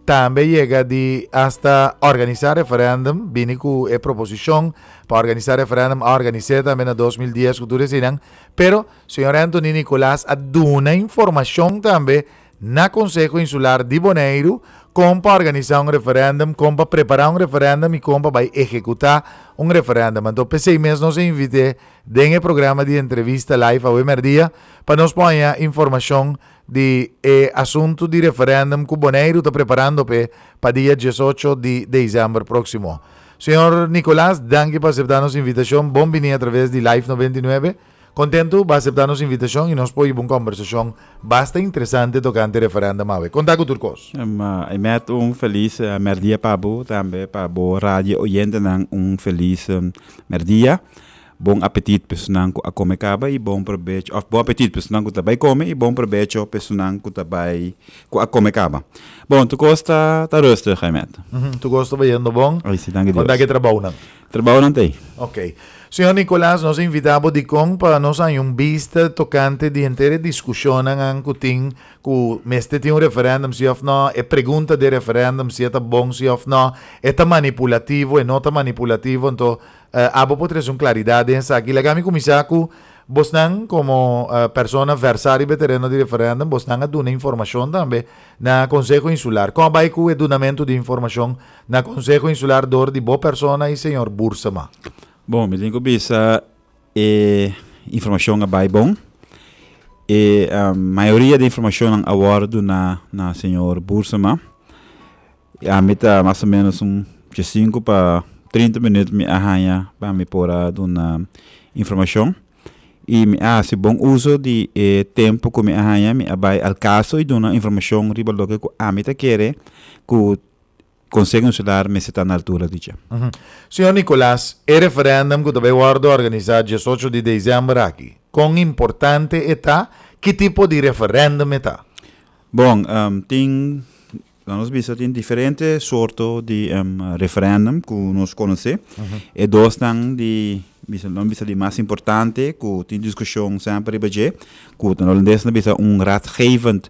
Tambe yega di asta organisa referendum, bini ku e proposishon pa organisa referendum a organis'é tambe na dos mil dies ku tur eseinan, pero señor Anthony Nicolas a duna informashon tambe Na Konseho Insular di Boneiru kon pa organisá un referèndum, kon pa prepará un referèndum i kon pa bai ehekutá un referèndum. Anto p'esei mes nos a invit'é den e programa di entrevista Live Awé Mèrdia pa nos por haña informashon di e asuntu di referèndum ku Boneiru ta preparando p'e pa dia diesocho di desèmber próksimo. Señor Nicolás, danki pa aseptá nos invitashon. Bon biní atraves di Live noventa i nuebe. Kontentu bo a aseptá nos invitashon i nos por hiba un kòmbersashon basta interesante tokante referèndum awe. Kontá ku tur kos. I mèt un felis mèrdia pa bo, tambe pa bo radio oyentenan un felis mèrdia. Bon apetit pesunnan ku a kome kaba i bon probecho, òf bon apetit pesunnan ku ta bai kome i bon probecho pesunnan ku ta bai ku a kome kaba. Bon tur kos ta rustig, i mèt. Tur kos ta bayendo bon. Kontá ku e trabounan. Trabahonan t'ei. Ok. Señor Nicolas, nos a invitá bo dikon pa nos haña un bista tokante di henter e diskushonnan an ku tin ku mester tin un referèndum si òf nò, e pregunta di e referèndum si e ta bon si òf nò, e ta manipulativo, e no ta manipulativo. Anto abo por trese un klaridat den esaki. Laga mi kuminsá ku bosnan komo persona versá riba e tereno di referèndum, bosnan a duna informashon tambe na Konseho Insular. Kon a bai ku e dunamentu di informashon Na Konseho Insular dor di bo persona i señor Boersema. Bon, mi tin ku bisa e informashon a bai bon. E mayoria di informashonnan a wòrdu duna na señor Boersema. I ami ta mas o ménos un djasinku pa trinta minüt mi a haña pa mi por a duna informashon. I mi a hasi bon uso di e tempu ku mi a haña, mi a bai al kaso i duna informashon riba loke ku ami ta kere ku Conseho Insular mester ta na altura di dje. Señor Nicolas, e referendum cu ta bay wordo organiza diesocho di december aki, con importante e ta? Ki tipo di referendum e ta? Bon, tin, na nos bista tin diferente sorto di referendum cu nos conoce. E dosnan di, bisa, nan bisa di mas importante cu tin discusion semper riba dje, cu ta na holandes nan bisa un raadgevend,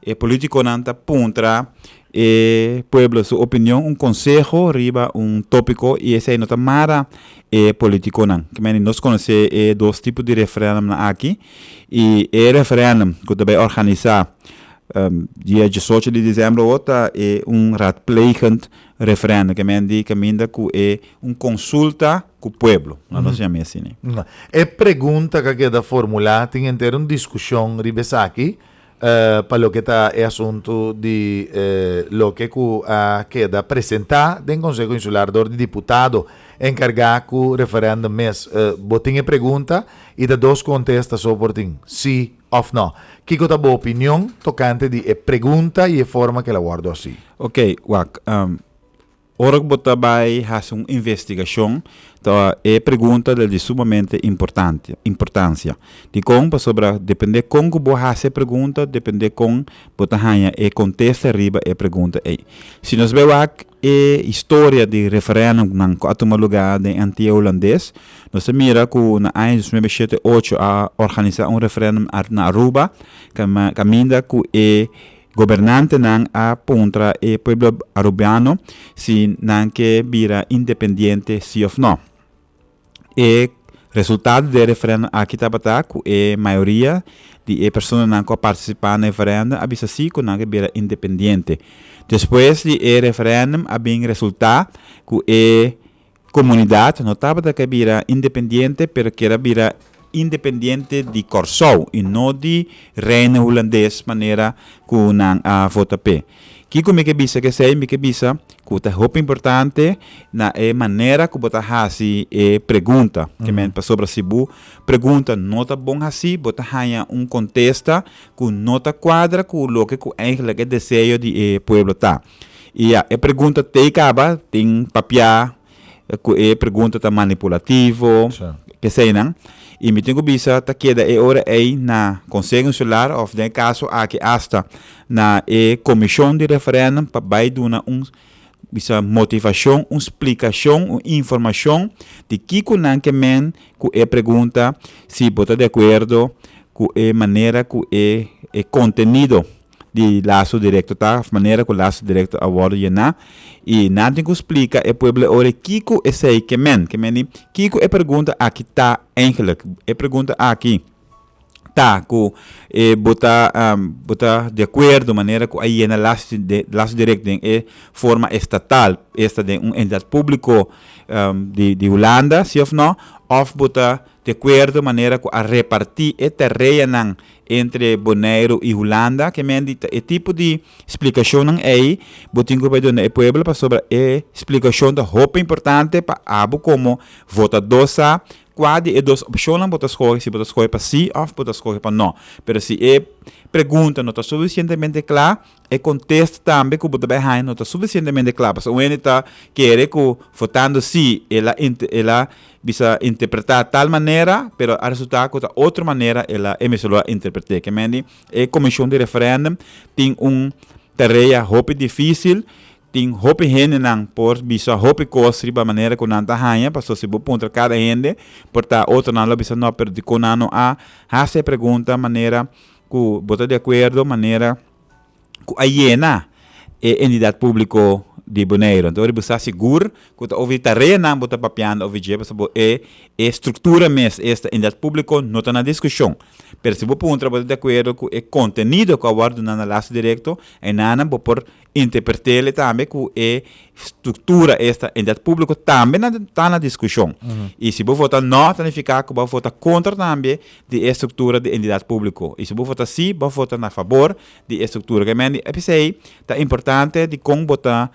E politiconan ta puntra e pueblo su opinion, un conseho riba un topico y esey no ta mara e politiconan. Kimendi nos conoce e dos tipo di referendumnan aki y e referendum cu ta bay organisa dia diesocho di diciember awo ta e un raadplegend referendum, kimendi caminda cu e un consulta cu pueblo, lo nos yama asina. E pregunta ca keda formula tin henter un discusion riba esaki Pa loke ta e asuntu di loke ku a keda presentá den Konseho Insular dor di diputado enkargá ku referèndum mes, bo tin e pregunta i ta dos kontesta so por tin, sí òf nò. Kiko ta bo opinion tokante di e pregunta i e forma ku el a wòrdu hasi? Oke, wak. Ora ku bo ta bai hasi un investigashon, ta e pregunta del di sumamente importante, importansia. Dikon? Pasobra depende kon ku bo hasi e pregunta, depende kon bo ta haña e kontesta riba e pregunta ei. Si nos bai wak e historia di referendumnan ku a tuma lugá den Antia Hulandes, nos ta mira ku na aña dos nuebe shete ocho a organisá un referendum na Aruba, kam, kaminda ku e Gobernantenan a puntra e pueblo Arubiano si nan ke bira independiente si of no. E resultado di e referendum aki tabata ku e mayoria di e personanan ku a partisipá na e ferèndum a bisa sí ku nan ke bira independiente. Despues di e referendum a bin resultá ku e Comunidad no tabata ke bira independiente pero kier a bira independiente di Corsou y no di Reino Hulandes manera cu nan a vota p'e. Kico mi ke bisa ke esey? Mi ke bisa cu ta hopi importante na e manera cu bo ta haci e pregunta ke men pasobra si bo pregunta no ta bon haci bo ta haya un contesta cu no ta cuadra cu loke cu eigenlijk e deseo di e pueblo ta. I ya, e pregunta t'ei kaba, tin papia ku e pregunta ta manipulativo, p'esei nan. I mi tin ku bisa ta keda e ora ei na Konseho Insular òf den e kaso aki asta na e komishon di referèndum pa bai duna un bisa motivashon, un splikashon, un informashon di kiko nan ke men ku e pregunta, si bo ta de akuerdo ku e manera ku e kontenido di laso direkto ta manera ku laso direkto a wòrdu yená i nan tin ku splika e pueblo e ora kiko esei ke men. Ke men i kiko e pergunta aki ta eingelijk. E pergunta aki ta ku e bo ta bo ta di akuerdo manera ku a yena laso laso direkto den e forma estatal esta den un entidat públiko di di Hulanda si òf nò òf bo ta De kuerdo manera ku a repartí e tereanan entre Boneiru i Hulanda, ke men di ta e tipo di splikashonnan ei bo tin ku bai duna e pueblo pasobra e splikashon ta hopi importante pa abo komo votadó sa kua di e dos opshonnan bo ta skohe, si bo ta skohe pa sí òf bo ta skohe pa no. Pero si e pregunta no ta sufisientemente kla, E contesta tambe cu bo ta bay haña no ta suficientemente cla, pasobra un hende ta kere cu votando si el a el a bisa interpreta tal manera, pero a resulta cu ta otro manera el a e mes lo a interprete. Ke men di e comision di referendum tin un tarea hopi dificil, tin hopi hendenan por bisa hopi cos riba manera cu nan ta haña, pasobra si bo puntra cada hende por ta otronan lo a bisa no, pero dicon nan no a hasi e pregunta manera Ku bo ta di akuerdo manera ku a yena e endidat públiko di Boneiru. Anto wor bo sa sigur ku ta over di tareanan bo ta papiando over dje pasobra bo e e struktura mes esta e endidat públiko no ta na diskushon. Pero si bo puntra bo ta di akuerdo ku e kontenido ku a wòrdu duna na laso direkto, enanan bo por Interpretele tambe ku e struktura esta Entidat Públiko tambe na ta na diskushon. I si bo vota no ta nifiká ku bo vota kontra tambe di e struktura di Entidat Públiko. I si bo vota sí bo vota na fabor di e struktura ke men. P'esei ta importante dikon bo ta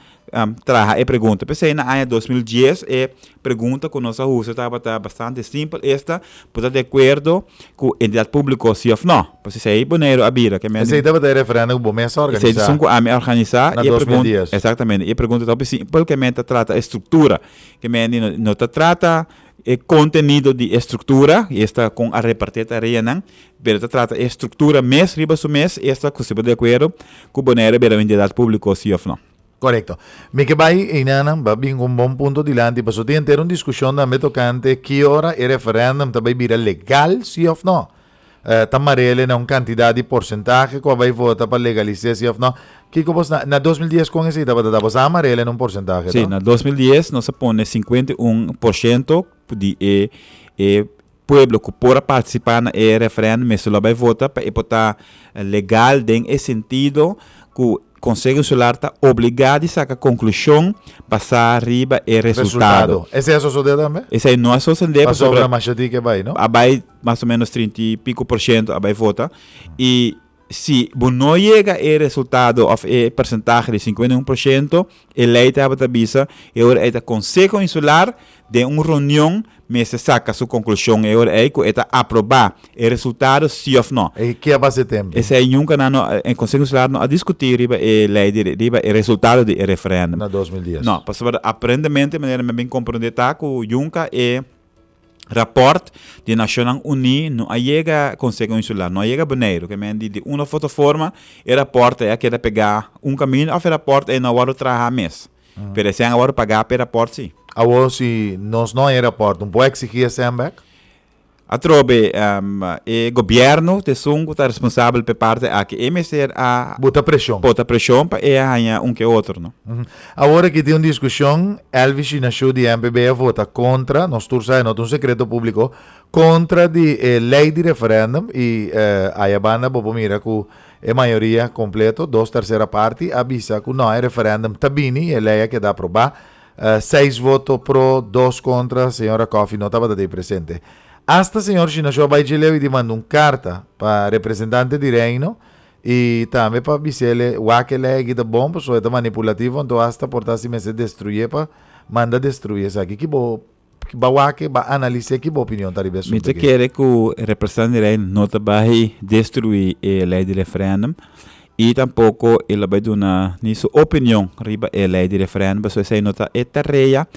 traha e pregunta. P'esei na aña dos mil dies e Pregunta ku nos a usa tabata bastante simpel esta, Bo ta de akuerdo ku entidat públiko sí òf nò? Pues esei Boneiru a bira ke men. Esei tabata e referèndum ku bo mes a organisá. Esei dison ku ami a organisá. Na dos mil dies. Exactamente. E pregunta ta hopi simpel ke men ta trata e struktura. Ke men di no ta trata e kontenido di e struktura, i esta kon a repartí e tareanan, pero ta trata e struktura mes riba su mes esta ku si bo de akuerdo ku Boneiru a bira un entidat públiko sí òf nò. Korekto. Mi ke bai einanan pa bin ku un bon punto dilanti paso tin enter un diskushon tambe tokante ki ora e referendum ta bai bira legal si òf nò. Ta marele na un kantidat di porsentahe ku a bai vota pa legalis'é si òf nò. Kiko bos na na dos mil dies kon esei tabata? Tabata a marele na un porsentahe to? Sí, na dos mil dies nos a pone sinkuenta i un por shento di e e Pueblo cu por a participa na e referendum mester lo bay vota pa e por ta legal den e sentido cu Conseho Insular ta obliga di saca conclusion basa riba e resultado. Esey a sosode tambe? Esey no a sosode pasobra a bay mas o menos trinta y pico por ciento a bay vota y Si bo no yega e resultado of e persentahe di sinkuenta i un por shento, e lei tabata bisa e ora ei ta Konseho Insular den un reunion mester saka su konklushon e ora ei ku e ta aproba e resultado si of no. E ke a basa e tempu? Esei nunka nan no e Konseho Insular no a diskuti riba e lei di riba e resultado di e referendum. Na dos mil dies. No, pasobra aparentemente manera mi a bin komprende ta ku yunka e. Raport di Nacionnan Uní no a yega Conseho Insular, no a yega Boneiru, ke men di di un of otro forma e raport ei a keda pegá un kaminda of e raport ei no a wòrdu trahá mes. Pero esei a wòrdu pagá p'e raport sí. Awor si nos no a e raport, no por eksigí esei en bèk? Atrobe, e Gobierno t'e esun ku ta responsabel p'e parte aki. E mester a. Bota preshon. Bota preshon pa e a haña un ku e otro, no? Awor aki tin un diskushon, Elvis Shinashu di MPB a vota kontra, nos tur sa e no ta un sekreto públiko, kontra di e lei di referèndum i ayabanda bo por mira ku e mayoria kompleto, dos tersera parti, a bisa ku nò e referèndum ta bini i e lei a keda aprobá, seis voto pro, dos kontra, señor Rakòfi no tabata dey presente. Asta señor Shinashu a bai dje leu i dimanda un karta pa representante di Reino I tambe pa bisa el e wake legi ta bon pasobra e ta manipulativo anto asta por ta si mester destruye pa manda destruye esaki. Ki bo ba wake, ba analis'é ki bo opinion ta riba e Mi asuntu ta aki? kere ku e representan di rei no ta bai destruí e lei di referendum i tampoko e lo bai duna ni su opinion riba e lei di referendum pasobra esei no ta e tarea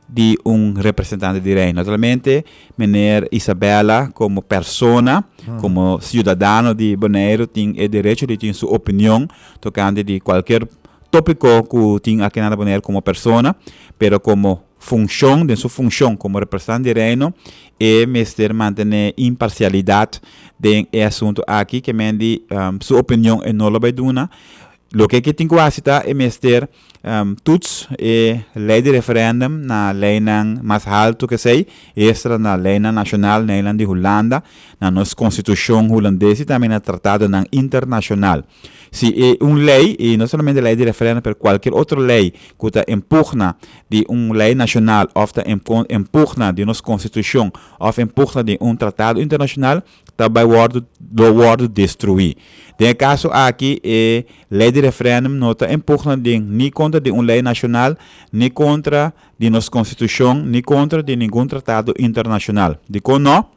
di un representante di Reino. Naturalmente, meneer Isabella como persona, como ciudadano di Boneiru tin e derecho di tin su opinion tocante di cualkier topico cu tin aki na Boneiru como persona, pero como funcion, den su funcion como representante di Reino, e mester mantene imparcialidad den e asunto aki, kemen di su opinion e no lo bay duna. Loke ke tin cu haci ta e mester Tuts e lei di referendum na leinan mas haltu kesei i estra na leinan nashonal na eilan di Hulanda, na nos konstitushon hulandés i tambe na tratadonan internashonal. Si e un lei, i no solamente lei di referendum pero kualkier otro lei ku ta en pugna di un lei nashonal òf ta en pugna di nos konstitushon òf en pugna di un tratado internashonal, ta bai wòrdu lo wòrdu destruí. Den e kaso aki e lei di referèndum no ta en pugna di ni kontra di un lei nashonal, ni kontra di nos konstitushon, ni kontra di ningun tratado internashonal. Dikon no?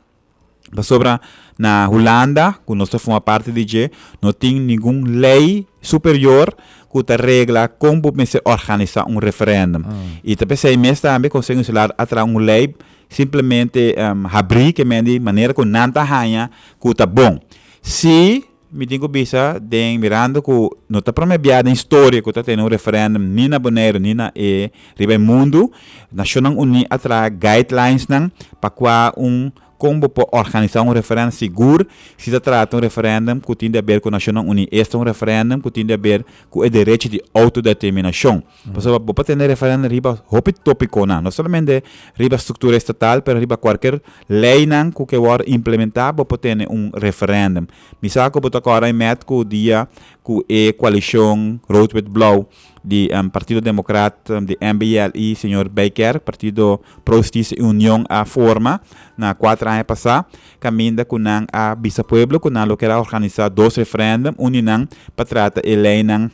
Pasobra na Hulanda, ku nos ta forma parti di dje, no tin ningun lei superior ku ta regla kon bo mester òrganisá un referèndum. I ta p'esei mes tambe Konsei Insular a traha un lei Simplemente habrí ke men di manera ku nan ta haña ku ta bon. Sí, mi tin ku bisa den mirando ku no ta promé biaha den historia ku ta tene un referendum ni na Boneiru ni na e riba e mundu. Nashonnan Uní a traha guidelinesnan pa kua un kon bo por organisá un referendum sigur si ta trata un referendum ku tin di aber ku Nashonnan Uní. Esta un referendum ku tin di aber ku e derechi di outodeterminashon. Pasobra bo por tene referendo riba hopi topiconan, no solamente riba structura estatal, pero riba cualkier leynan cu ke worde implementa, bo por tene un referendum. Mi sa cu bo ta acorda e met cu dia cu e coalicion rood-wit-blauw di Partido Democrat, di MBL y señor Bijkerk, Partido Pro Justicia y Union a forma na cuater aña pasa, caminda cu nan a bisa pueblo cu nan lo kier a organisa dos referendum, un di nan pa trata e leynan,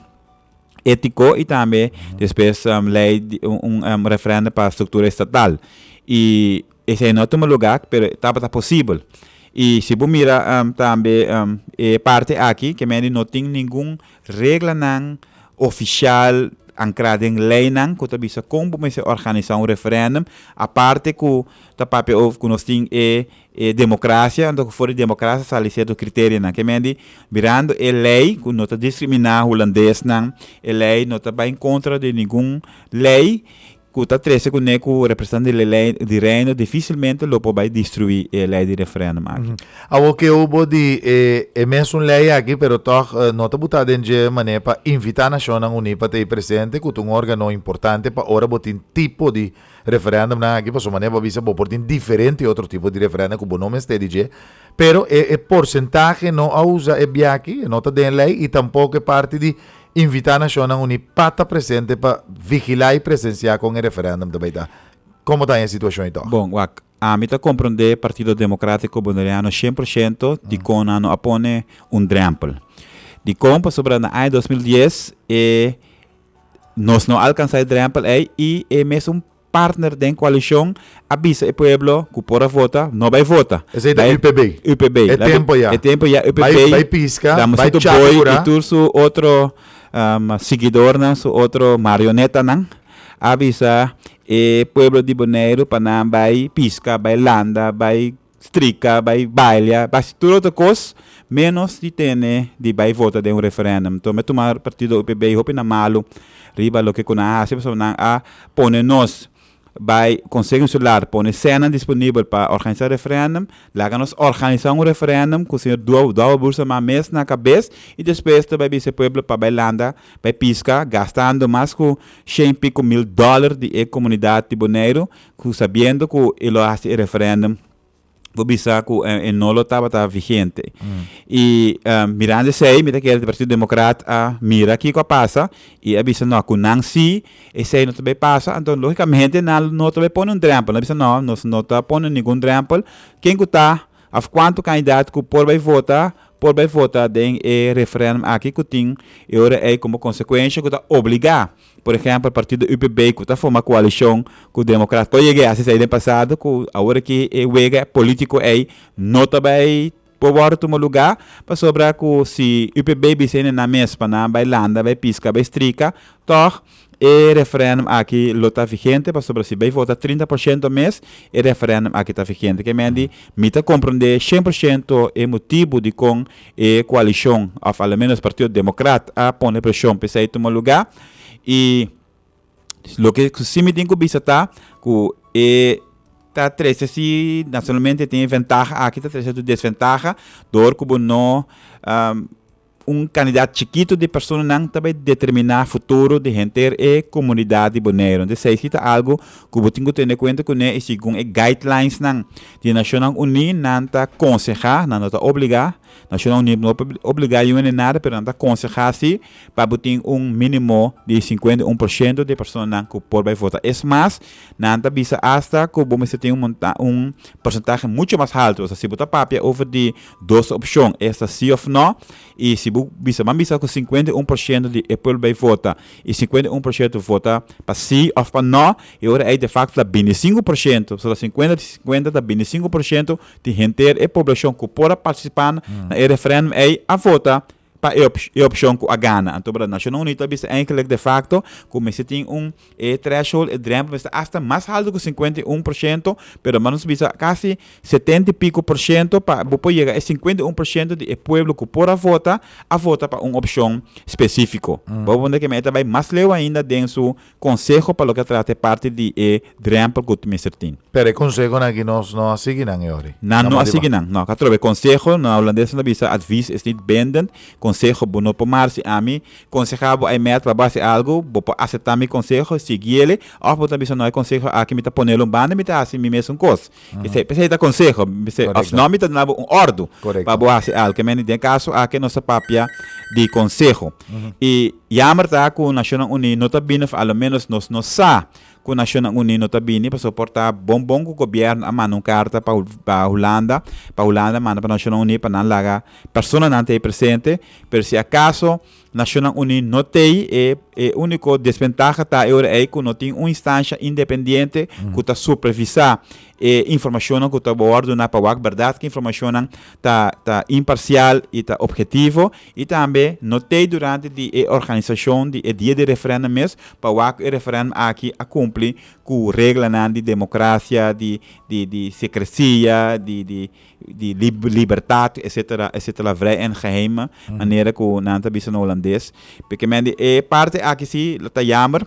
étiko i tambe despues lei un referendo pa struktura estatal i esei no a tuma lugá pero tabata posibel i si bo mira tambe e parti aki ke men di no tin ningun reglanan ofisial ankrá den leinan ku ta bisa kon bo mester organisá un referendo aparte ku ta papia over ku nos tin e E democracia, anto cu for di democracia sali cierto criterionan. Ke men di, mirando e ley cu no ta discrimina Hulandesnan, e ley no ta bay en contra di ningun ley cu ta trece cu ne cu representante di ley di Reino dificilmente lo por bay destrui e ley di referendum aki. Awor ke hobo di e e mesun ley aki, pero tog no ta buta den dje manera pa invita Nacionnan Uní pa ta ey presente, cu ta un organo importante pa ora bo tin tipo di Referendumnan aki pasobra manera bo bisa bo por tin diferente otro tipo di referendum cu bo no mester di dje, pero e porcentahe no a usa e biachi, e no ta den ley y tampoco e parti di invita Nacionnan Uni pa ta presente pa vigila y presencia con e referendum ta bay ta. Como ta e situacion y tog? Bon, wak, ami ta compronde Partido Democratico Boneriano cien por ciento dicon nan no a pone un drempel. Dicon? Pasobra na aña dos mil dies e. Nos no alkansá e drèmpel ei i e mesun partner den koalishon a bisa e pueblo ku por a vota no bai vota. Esei ta UPB. UPB. E tempu ya. E tempu ya UPB. Bai bai piska, bai chaki kura. Tur su otro siguidornan, su otro marionetanan a bisa e pueblo di Boneiru pa nan bai piska, bai landa, bai. strika, bai balia, bai hasi tur otro kos, menos di tene di bai vota den un referendum. Enton mi a tuma partido UPB hopi na malu riba loke ku nan a hasi pasobra nan a pone nos bai Conseho Insular pone sènan disponibel pa organisa referendum, laga nos organisa un referendum ku señor Duo Duavo Bursama mes na kabes i despues ta bai bisa e pueblo pa bai landa, bai piska gastando mas ku shen i piko mil dòler di e komunidat di Boneiru. Cu sabiendo cu e lo haci e referendum bo bisa cu e no lo tabata vigente. Y mirando esey mi ta kere di Partido Democrat a mira kico a pasa y a bisa no cu nan si esey no ta bay pasa anto logicamente nan no ta bay pone un drempel. Nan a bisa no nos no ta pone ningun drempel ken cu ta of cuanto candidato cu por bay vota por bay vota den e referendum aki cu tin e ora ey como consecuencia cu ta obliga. Por ehempel partido UPB cu ta forma coalicion cu democrat por yega a haci esai den pasado cu awor aki e wega politico ei no ta bay por wordo tuma lugar pasobra cu si UPB bisa e nenan mes pa nan bay landa bay pisca bay strica tog e referendum aki lo ta vigente pasobra si bay vota trinta por ciento mes e referendum aki ta vigente kemey di mi ta comprende cien por ciento e motibo dicon E koalishon òf alomenos Partido Democrat a pone preshon pa esei tuma lugá i loke ku si mi tin ku bisa ta ku e ta trese si nasionalmente e tin e ventaha aki ta trese su desventaha dor ku bo no un kandidat chikitu di personanan ta bai determiná futuro di henter e komunidat di Boneiru. Entonces esei si ta algu ku bo tin ku tene kuenta kuné i segun e guidelines nan Di Nashonnan Uní nan ta konsehá, nan no ta obligá, Nashonnan Uní no por obligá yu hende nada pero nan ta konsehá sí pa bo tin un mínimo di sinkuenta i un por shento di personanan ku por bai vota. Es mas, nan ta bisa asta ku bo mester tin un monta un porsentahe mucho mas haltu. Esta si bo ta papia over di dos opshon, esta sí òf nò, i si bo bisa ban bisa ku sinkuenta i un por shento di e pueblo bai vota i sinkuenta i un por shento vota pa sí òf pa nò, E ora ei te facto ta bintisinco por ciento, so ta cincuenta di cincuenta ta binticinco por ciento di henter e poblacion cu por a participa na e referendum ei a vota pa e e opcion cu a gana. Anto bra Naciones Unido ta bisa eindelijk de facto cu mester tin un e threshold, e drempel mester hasta mas halto cu cincuenta y un por ciento, pero hermano nos bisa casi setenta y pico por ciento pa bo por yega e cincuenta y un por ciento di e pueblo cu por a vota, a vota pa un opcion specifico. Bo a wonder keme ei ta bay mas leu ainda den su Konseho pa loke a trata e parti di e drèmpel ku mester tin. Pero e konsehonan aki nos no a sigui nan e ori. Nan no a sigui nan. No, ka trobe. Konseho, na hulandes nan a bisa advies is niet bindend. Konseho, bo no por mar si ami konsehá bo ei mèt pa base algu, bo por aseptá mi konseho, sigui ele, òf bo ta bisa no e konseho aki mi ta ponel un banda mi ta hasi mi mes un kos. P'esei, p'esei ta konseho. P'esei, òfnò mi ta duna bo un òrdu pa bo hasi algu. Ke men, den kaso aki nos ta papia di konseho. I. Yammer ta cu Nacionnan Uní no ta bini of a lo menos nos no sa cu Nacionnan Uní no ta bini pasobra por ta bon bon cu Gobierno a manda un carta pa pa Hulanda pa Hulanda manda pa Nacionnan Uní pa nan laga personanan ta ey presente pero si acaso Nacionnan Uní no tey e e unico desventaha ta e ora ey cu no tin un instancia independiente cu ta supervisa e informacionnan cu ta wor duna pa wak berdad ki informacionnan ta ta imparcial y ta objetivo. I tambe no t'ei durante di e organisashon di e dia di referendum mes pa wak ku e referendum aki a kumpli ku reglanan di demokrasia, di di di sekresia, di di di lib libertat, etsetera, etsetera, vrij en geheim manera ku nan ta bisa na Holandes. P'e ke men di e parti aki si ta yamber.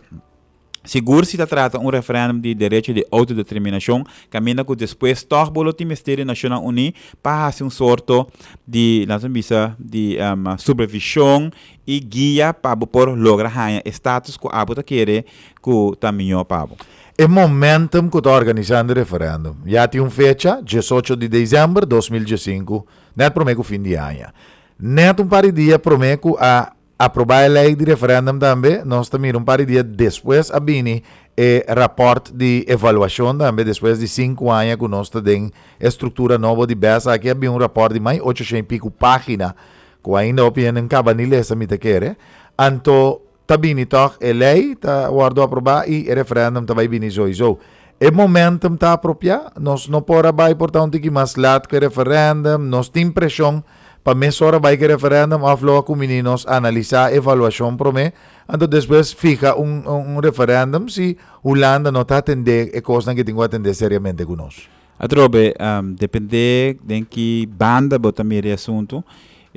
Sigur si ta trata un referendum di derecho di autodeterminacion, caminda cu despues toch bo lo tin mester di Nacionnan Uní pa haci un sorto di, laten mi bisa, di supervision y guia pa bo por logra haña e status cu abo ta kere cu ta mijo pa bo. E momentum cu ta organizando e referendum ya tin un fecha, diesocho di december dos mil diescinco, net prome cu fin di aña. Net un par di dia prome cu a. Aprobá e lei di referendum tambe, nos ta mira un par di dia despues a bini e raport di evaluashon tambe, despues di sinku aña ku nos ta den e struktura nobo di bes aki a bin un raport di mai ocho shen i piku pagina ku ainda hopi hende no kaba ni lesa mi ta kere, anto ta bini tog e lei ta wòrdu aprobá i e referendum ta bai bini soisou. E momentum ta apropiá, nos no por a bai por ta un tiki mas lat ku e referendum, nos tin preshon. Pa mes ora bai ke referendum of lo a kumini nos analisa evaluashon prome anto despues fiha un un referendum si Hulanda no ta atende e kosnan ke tin ku atende seriamente ku nos. Atrobe depende den ki banda bo ta mira e asuntu.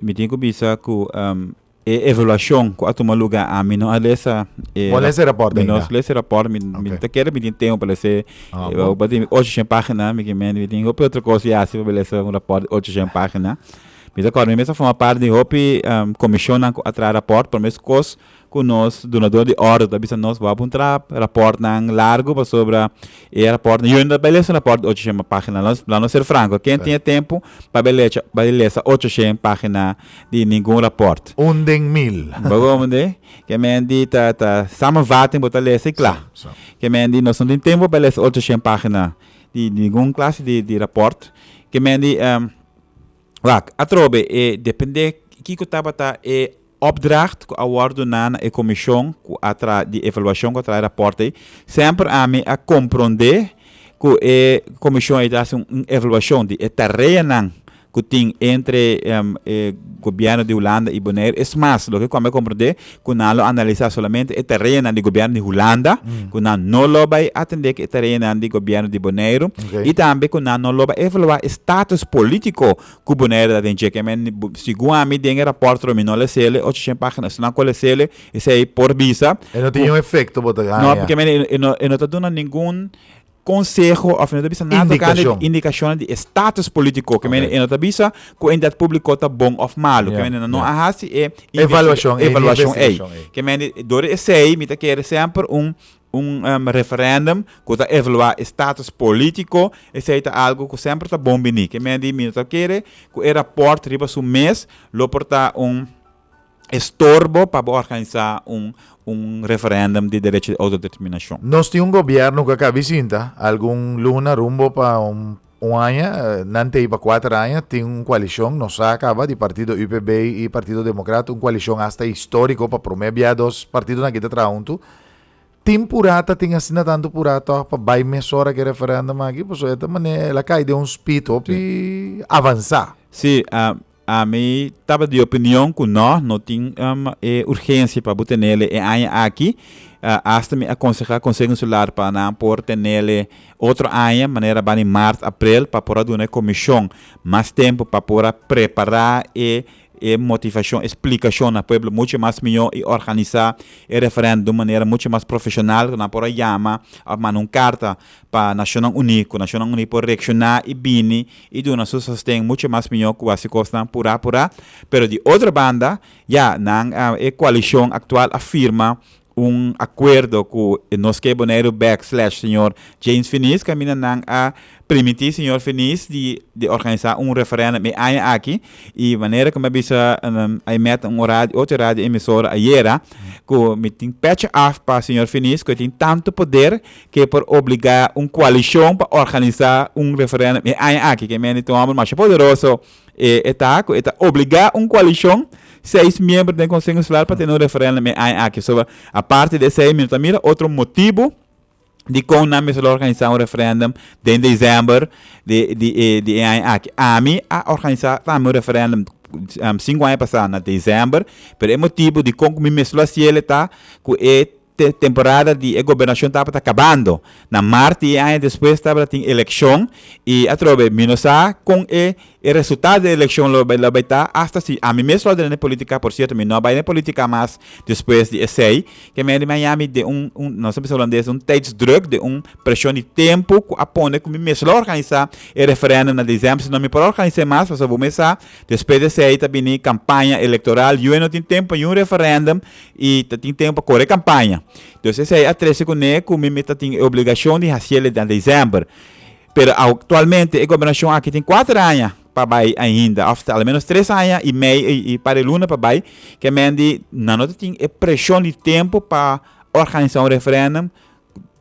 Mi tin ku bisa ku E evaluashon ku a tuma lugá ami no a lesa e Bo lesa e rapòrt mi no ainda? lesa e rapòrt mi mi Ok. ta kere mi tin tempu pa lesa e Ah, e bo. pasobra mi ocho shen página mi ke mende mi tin hopi otro kos yasi pa mi lesa un rapòrt di ocho shen página mi ta kòrda mi mes a forma parti di hopi em komishonnan ku a traha rapòrt por mes kos ku nos dunador di òrdu ta bisa nos bo a puntra rapòrtnan largu pasobra E rapòrtnan, yo inda bai lesa rapòrt di ocho shen página. Lo, lanos ser franko, ken tin e tempu pa bai lecha, bai lesa ocho shen página di ningun rapòrt? Un den mil. Bo hoor me de? Ke men di ta, ta samenvatting bo ta lesa i kla. Sa, sa. Ke men di nos no tin tempu pa bai lesa ocho shen página di ningun klase di, di rapòrt. Ke men di, Wak, atrobe e depende kiko tabata e Opdracht ku a wòrdu duna na e komishon ku a traha di evaluashon ku a traha e rapòrt ei, semper ami a komprondé ku e komishon ei ta hasi un evaluashon di e tareanan ku tin entre e gobièrnu di Hulanda i Boneiru. Es mas, loke ku ami a komprondé ku nan lo analisá solamente e tareanan di gobièrnu di Hulanda, ku nan no lo bai atendé ku e tareanan di gobièrnu di Boneiru i tambe ku nan no lo bai evaluá e status polítiko ku bo na herdad den cheque men ni bo sigun ami den e raport lo mi no lesele ocho shen pagina estonan ku a lesele esei por bisa E no tin ku yon efekto bo ta no gaña. porque men e no e no ta duna ningun konseho òf e no ta bisa nada tokante di Indikashon. indikashonnan di e status politiko ke men Oké. e no ta bisa ku e entidat publiko ta bon òf malu ke Ya, men no ya. a hasi e investiga Evaluashon ei, ni evaluashon ei investigashon ei. ke men dor esei mi ta kere semper un un referendum cu ta evaluá e status politico, esei ta algo cu semper ta bon bini. Ke men di, mi no ta kere cu e raport riba su mes lo por ta un estorbo pa bo organisá un referendum di derecho di autodeterminacion. Nos tin un gobierno cu a cabi sinta algun luna rumbo pa un aña, nantei pa cuater aña, tin un coalicion, nos sa caba, di partido UPB y Partido Democrat, un coalicion hasta historico, pa prome bia dos partidonan aki ta traha huntu. Tin pura ta tin asina tanto pura toch pa bai mesora que referéndum aquí, pues esta manera la cae de un speed op sí. y avanza. Sí, a, a mi taba de opinión que no, no tin um, e urgencia pa bu tenele e aña aquí. Uh, hasta mi aconseja Consejo Insular pa nan por tenele otro aña, manera bani maart, april, pa por duna e comisión mas tempo pa por prepara e e motivashon, e splikashon na pueblo mucho mas mihó i organisá e referèndum di un manera mucho mas profeshonal ku nan por a yama òf manda un karta pa Nashonnan Uní ku Nashonnan Uní por reakshoná i bini i duna su sosten mucho mas mihó ku wasi kosnan purá purá. Pero di otro banda, ya, nan e koalishon aktual a firma Un acuerdo cu e nos key Boneiru bek slash señor James Finis caminda nan a primiti señor Finis di di organisa un referendum e aña aki y manera cu mi a bisa I met un radio ocho radio emisora ayera cu mi tin pecha af pa señor Finis cu e tin tanto poder que por obliga un coalicion pa organisa un referendum e aña aki que mi a di tin homber masha poderoso. E ta ku e ta obligá un koalishon seis miembro den Konseho Insular pa tene un referendum e aña aki. So, aparte di esei mi no ta mira otro motibu dikon nan mester lo organisá un referendum den desèmber di di e di e aña aki. Ami a organisá tambe un referendum sinku aña pasá na desèmber, pero e motibu dikon ku mi mes lo hasiel e ta ku e te temporada di e gobernacion tabata cabando. Na Mart di e aña despues tabata tin eleccion y atrobe mi no sa con e e resultado di e eleccion lo lo bay ta hasta si ami mes lo a duna na e politica, por cierto mi no a bay na e politica mas despues di esey, ke men riba Miami den un un nos ta bisa Holandes den un tijdsdruk, den un presion di tempo cu a pone cu mi mes lo organisa e referendum na December si no mi por a organisa e mas pasobra bo me sa despues di esey ta bini campaña electoral ue no tin tempo pa yu referendum I ta tin tempo pa kore e kampaña. Entonces esei a trece kuné ku mi mi ta tin e obligashon di hasiel den december. Pero aktualmente e gobernashon aki tin kuater aña pa bai ainda òf ta almenos tres aña i mei i par e luna pa bai. Ke men di nan no ta tin e preshon di tempo pa organisá un referèndum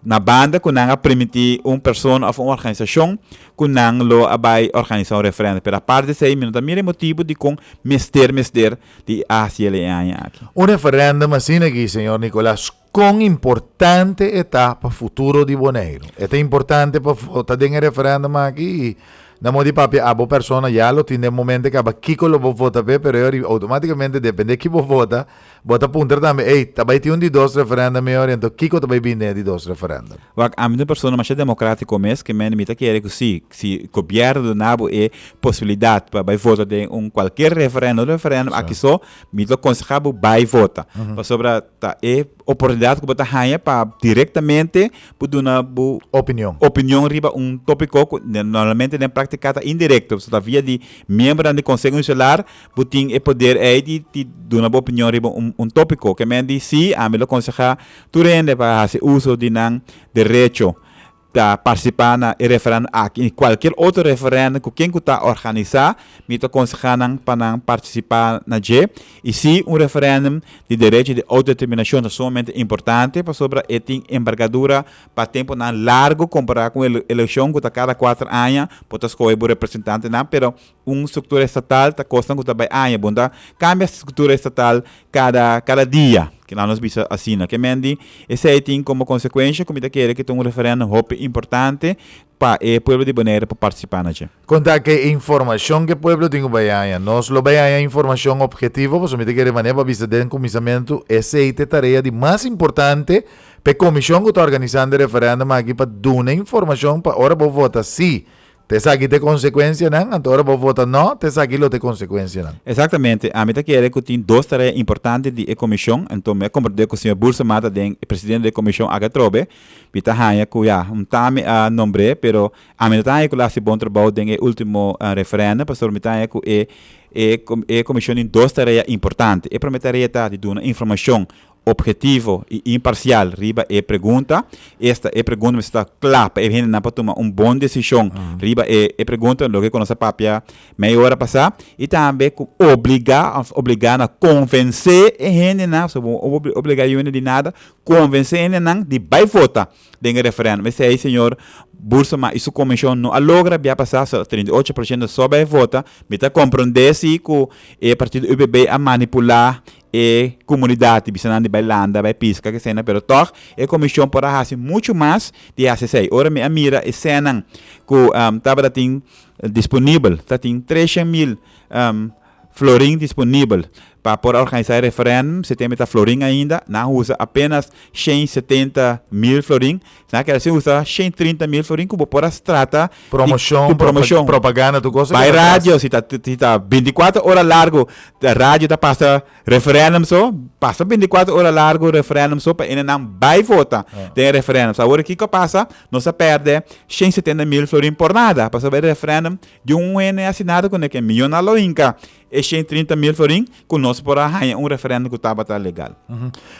na banda ku nan a permití un persona òf un organisashon ku nan lo a bai organisá un referendo. Pero apart di esei mi no ta mira e motibu dikon mester mester di hasi el e aña aki. Un referendum asina aki, señor Nicolas, kon importante e ta pa futuro di Boneiru? E ta importante pa bo ta den e referendum aki i na mos di papia a bo persona ya lo tin den momento e kaba kiko lo bo vota p'e pero e obi outomatikamente depende ki bo vota, Bo ta puntra tambe, Ey, ta bay tin un di dos referenda mihor y anto kico ta bay binde e di dos referenda? Wak, ami ta un persona masha democratico mes, que men mi ta kere cu si, si gobierno duna bo e posibilidad pa bay vota den un cualkier referenda o referendum aki so, mi ta conseha bo bay vota. Pasobra ta e oportunidad cu bo ta haya pa directamente bo duna bo opinion riba un topico cu normalmente den practica ta indirecto, pasobra ta via di miembernan di conseho insular Bo tin e poder ei di di duna bo opinion riba un un topiko. Ke men di si, ami lo konsehá tur hende pa hasi uso di nan derecho ta partisipá na e referendum aki i kualkier otro referendum ku ken ku ta organisá. Mi ta konsehá nan pa nan partisipá na dje. I si un referendum di derecho di outodeterminashon ta sumamente importante pasobra e tin enbergadura pa tempunan largu kompará ku un elekshon ku ta kada kuater aña bo ta skohe bo representantenan, pero. Un struktura estatal ta kosnan ku ta bai aña, bo no ta kambia struktura estatal kada kada dia, kilaw nos bisa asina. Ke men di esei tin komo konsekuensha ku mi ta kere ku ta un referèndum hopi importante pa e pueblo di Boneiru por partisipá na dje. Kon ta ke informashon ku e pueblo tin ku bai aña? Nos lo bai aña informashon opgetivo, pasobra mi ta kere manera pa bisa den kuminsamentu esei ta e tarea di mas importante pa e komishon ku ta organisando e referèndum aki pa duna informashon pa ora bo vota sí Ta esaki ta e konsekuensianan, anto ora bo vota no, ta esaki lo ta e konsekuensianan. Exactamente, ami ta kere cu tin dos tarea importante di e comision, enton mi a comprende cu señor Burson Mata den e presidente di e comision aki atrobe, mi ta hanja cu ya, un ta mi a nombre, pero ami no ta hanja cu lo a haci bon trabou den e ultimo referendum, pasobra mi ta hanja cu e e comision tin dos tarea importante. E prome tarea ta di duna informacion Obhetivo i imparsial riba e pregunta. Esta e pregunta mester ta kla pa e hendenan por tuma un bon desishon riba e e pregunta, loke ku nos a papia mei ora pasá. I tambe ku obligá òf obligá na konvensé e hendenan, pasobra bo no por obligá yuende di nada, konvensé e hendenan di bai vota den e referendum. Esei señor Boorsema i su komishon no a logra bia pasá, so trinta i ocho por shento so bai vota. Mi ta komprondé si ku e partido UPB a manipulá e kumunidat di bisanan di bai landa, bai piska, ke eseinan, pero tòg e komishon por a hasi muchu mas di hasi esei. Ora mi a mira esenan ku tabata tin disponibel, ta tin tresha mil florin disponibel pa por a organisá e referèndum, si te mi ta florin ainda, nan usa apenas shen setenta mil florin, Na keda sin usa shen trinta mil florin ku bo por a strata di Promoshon, ku promoshon. propaganda, tur kos ta Bai keda tras. radio, si ta si ta bintikwatro ora largu ta radio ta pasa referendum so, pasa bintikwatro ora largu referendum so pa hende nan bai vota den e referendum. So awor kiko a pasa, nos a pèrdè shen setenta mil florin por nada, pasobra e referendum di un hende asinada ku neken, miyonan lo hinka E shei trinta mil florin ku nos por a haña un referendo ku tabata legal.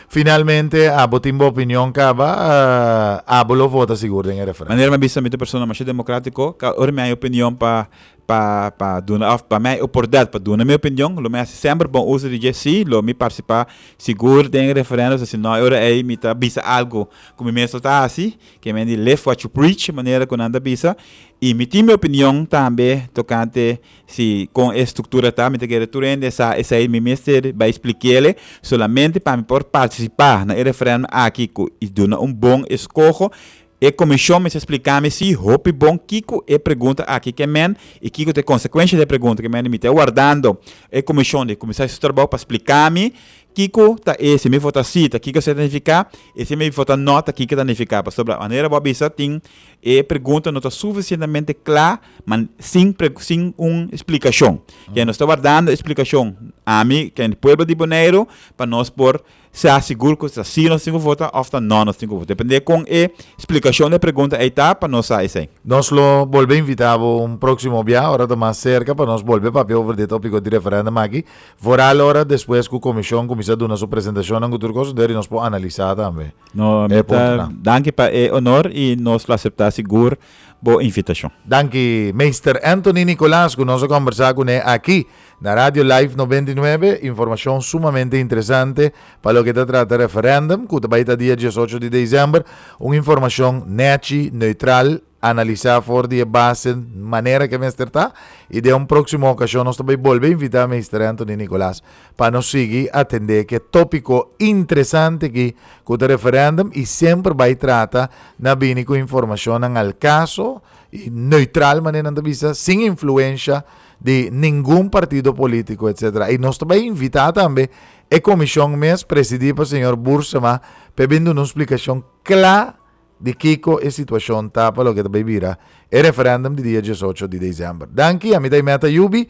Finalmente abo tin bo opinion kaba abo lo vota sigur den e referendo? Manera mi a bisa mi ta un persona masha demokratiko kaba ora mi haña opinion pa pa pa duna òf pa mi haña oportunidat pa duna mi opinion lo mi hasi semper bon uso di dje si lo mi partisipá sigur den e referendo si no e ora ei mi ta bisa algu ku mi mes lo ta hasi ke men di live what you preach manera ku nan ta bisa i mi tin mi opinion tambe tokante Si con e structura ta mi ta kere tur hende sa esai mi mester bai splikele solamente pa mi por participa na e referendum aki cu i duna un bon escoho e comision mester splika mi si hopi bon kico e pregunta aki ke men i kico ta e consecuencia di e pregunta ke men mi ta wardando e comision di cuminsa su trabou pa splika mi kico ta e si mi vota si ta kico esei ta nifica i si mi vota no ta kico ta nifica pasobra manera bo a bisa tin e pregunta no ta suficientemente cla ma sin sin un splikashon. Ke nos ta wardando e splikashon, ami ken di pueblo di Boneiru, pa nos por sa sigur ku ta si nos tin ku vota òf ta nò nos tin ku vota. Depende kon e splikashon dje pregunta ei ta pa nos sa esei. Nos lo bolbe invitá bo un próksimo bia ora ta mas serka pa nos bolbe papia over di e tópiko di referèndum aki, vooral ora despues ku komishon kuminsá duna su presentashonnan ku tur kos, huntu eri nos por analisá tambe e puntonan. Danki pa e onor i nos lo aseptá sigur bo invitacion. Danki Meester Anthony Nicolas cu nos a combersa cu ne aki na Radio Life noventa i nuebe. Informacion sumamente interesante pa loke ta trata referendum cu ta bay ta dia diesocho di december. Un informacion nechi, neutral, analisa for di e base manera cu e mester ta y den un proximo ocasion nos ta bay bolbe invita Meester Anthony Nicolas. Pa nos sigui atendé ke tópiko intresante aki ku ta referèndum i semper bai trata na bini ku informashonnan al kaso i neutral manera nan ta bisa sin influensha di ningun partido polítiko etsetera. I nos ta bai invitá tambe e komishon mes presidí pa señor Búrsema p'e bin duna un splikashon kla di kiko e situashon ta pa loke ta bay bira e referendum di dia diesocho di december. Danki, ami ta e Meta Yubi.